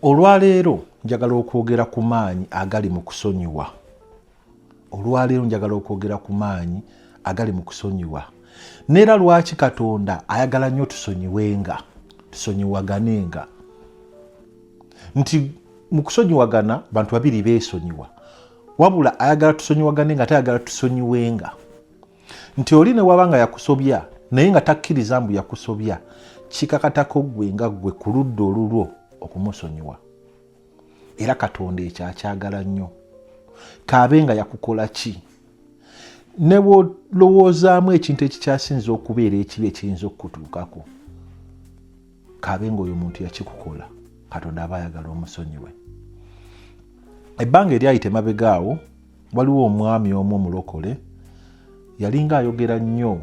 olwaleero njagala okwogera ku maanyi agali mu kusonyiwa olwaleero njagala okwogera ku maanyi agali mu kusonyiwa neera lwaki katonda ayagala nnyo tusonyiwenga tusonyiwaganenga nti mu kusonyiwagana bantu babiri beesonyiwa wabula ayagala tusonyiwagane nga tayagala tusonyiwenga nti oli ne waba nga yakusobya naye nga takkiriza mbu yakusobya kikakatako ggwe nga ggwe ku ludda olulwo okumusonyiwa era katonda ekyo akyagala nnyo kaabe nga yakukola ki ne bwolowoozaamu ekintu ekikyasinza okubeera ekibi ekiyinza okukutuukako kaabe nga oyo muntu yakikukola katonda aba ayagala omusonyiwe ebbanga eryayita emabega awo waliwo omwami omu omulokole yalinga ayogera nnyo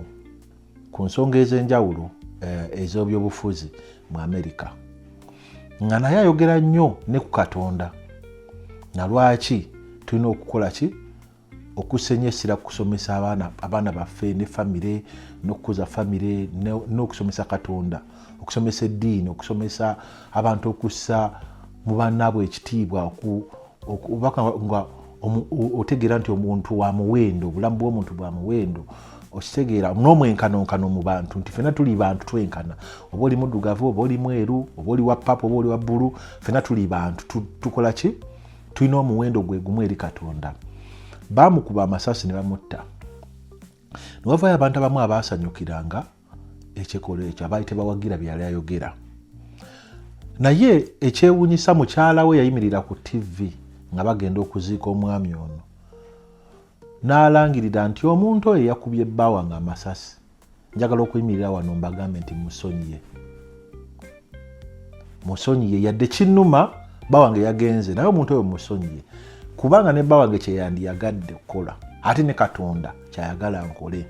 ku nsonga ez'enjawulo eh, ez'obyobufuzi mu amerika nga naye ayogera nnyo ne ku katonda na lwaki tulina okukola ki okusenyo essira kukusomesa abaana abaana baffe ne famire n'okukuza famire n'okusomesa katonda okusomesa eddiini okusomesa abantu okussa mu bannaabwe ekitiibwa obubaka nga otegeera nti omuntu wa muwendo obulamu bw'omuntu bwa muwendo okitegeera n'omwenkanonkano mu bantu nti fena tuli bantu twenkana oba oli muddugavu oba oli mweru oba oli wa papa oba oli wa bbulu fena tuli bantu tukola ki tulina omuwendo gwe gumu eri katonda baamukuba amasasi ne bamutta newavayo abantu abamu abaasanyukiranga ekikolwa ekyo abaali tebawagira byali ayogera naye ekyewunyisa mukyala we yayimirira ku tv nga bagenda okuziika omwami ono n'alangirira nti omuntu oyo yakubye bbawa nga amasasi njagala okuyimirira wano mbagambe nti musonyiye musonyiye yadde kinuma bawange yagenze naye omuntu oyo musonyiye kubanga ne bawange kyeyandiyagadde okukola ate ne katonda kyayagala nkole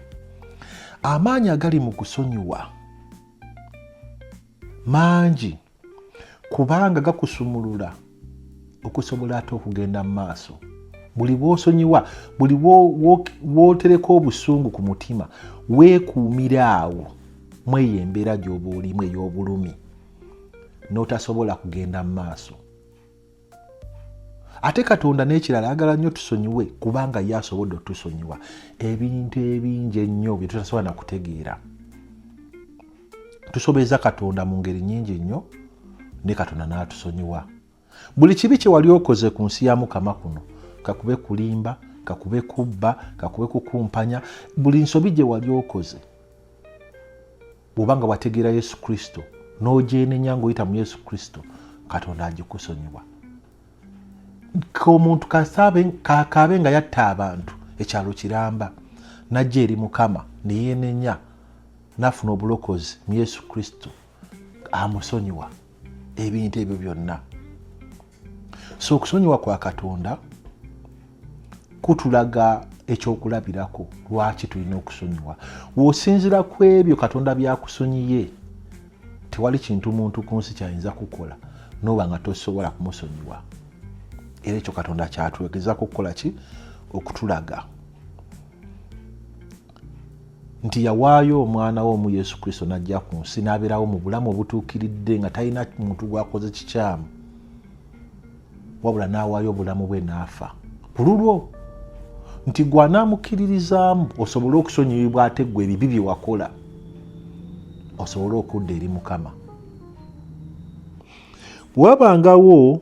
amaanyi agali mu kusonyiwa mangi kubanga gakusumulula okusobola ate okugenda mu maaso buli bwosonyiwa buli bwotereka obusungu ku mutima weekuumira awo mweyo embeera gyoba olimu ey'obulumi n'otasobola kugenda mu maaso ate katonda n'ekirala ayagala nnyo tusonyiwe kubanga ye asobodde otusonyiwa ebintu ebingi ennyo bye tutasobola nakutegeera tusobeza katonda mu ngeri nyingi nnyo ne katonda n'atusonyiwa buli kibi kye wali okoze ku nsi ya mukama kuno kakube kulimba kakube kubba kakube kukumpanya buli nsobi gye wali okoze bwoba nga wategeera yesu kristo n'ogyenenya ngaoyita mu yesu kristo katonda agikusonyiwa omuntu kakaabe nga yatta abantu ekyalo kiramba najja eri mukama neyenenya nafuna obulokozi mu yesu kristo amusonyiwa ebintu ebyo byonna so okusonyiwa kwa katonda kutulaga ekyokulabirako lwaki tulina okusonyiwa wosinzira ku ebyo katonda byakusonyiye tewali kintu muntu ku nsi kyayinza kukola noba nga tosobola kumusonyiwa era ekyo katonda kyatwegezako okukola ki okutulaga nti yawaayo omwana we omu yesu kristo n'ajja ku nsi n'abeerawo mu bulamu obutuukiridde nga talina muntu gwakoze kikyamu wabula n'awaayo obulamu bwe n'afa ku lulwo nti gwe anaamukkiririzaamu osobole okusonyiyibwa ate gwe ebibi bye wakola osobole okudda eri mukama wabangawo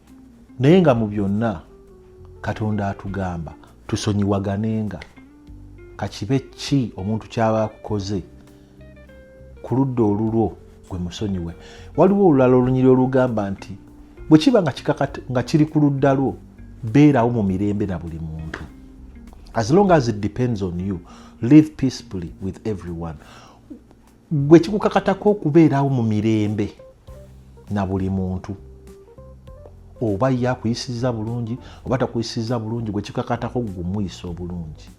naye nga mu byonna katonda atugamba tusonyiwaganenga kakibe ki omuntu kyaba akukoze ku ludda olulwo gwe musonyiwe waliwo olulala olunyiri olugamba nti bwe kiba nga kiri ku ludda lwo beerawo mu mirembe na buli muntu as long as it depends on you live peacefully with everyone gwe kikukakatako okubeerawo mu mirembe na buli muntu oba ye akuyisiza bulungi oba takuyisiza bulungi gwe kikakatako gumuyisa obulungi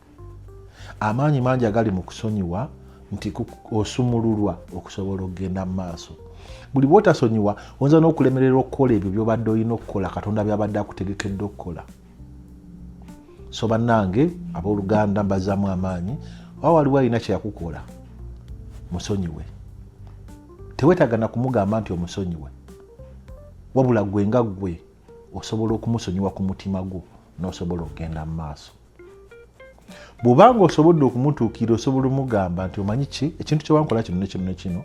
amaanyi mangi agali mu kusonyiwa nti osumululwa okusobola okugenda mu maaso buli bwotasonyiwa oyinza n'okulemererwa okukola ebyo byobadde olina okukola katonda byabadde akutegekedde okukola so bannange abooluganda mbazaamu amaanyi oba waliwo alina kyeyakukola musonyiwe tewetaaga na kumugamba nti omusonyiwe wabula gwe nga gwe osobola okumusonyiwa ku mutima gwo n'osobola okugenda mu maaso bwobanga osobodde okumutuukira osobola omugamba nti omanyi ki ekintu kyewankola kino nekino nekino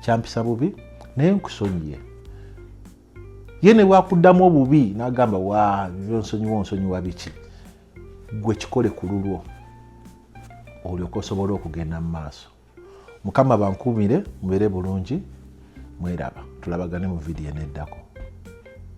kyampisa bubi naye nkusonyiye ye ne bwakuddamu obubi n'agamba wa byonsonyiwa onsonyiwa biki gwe kikole ku lulwo olyoka osobole okugenda mu maaso mukama bankuumire mubeere bulungi mweraba tulabagane mu vidiyo eneddako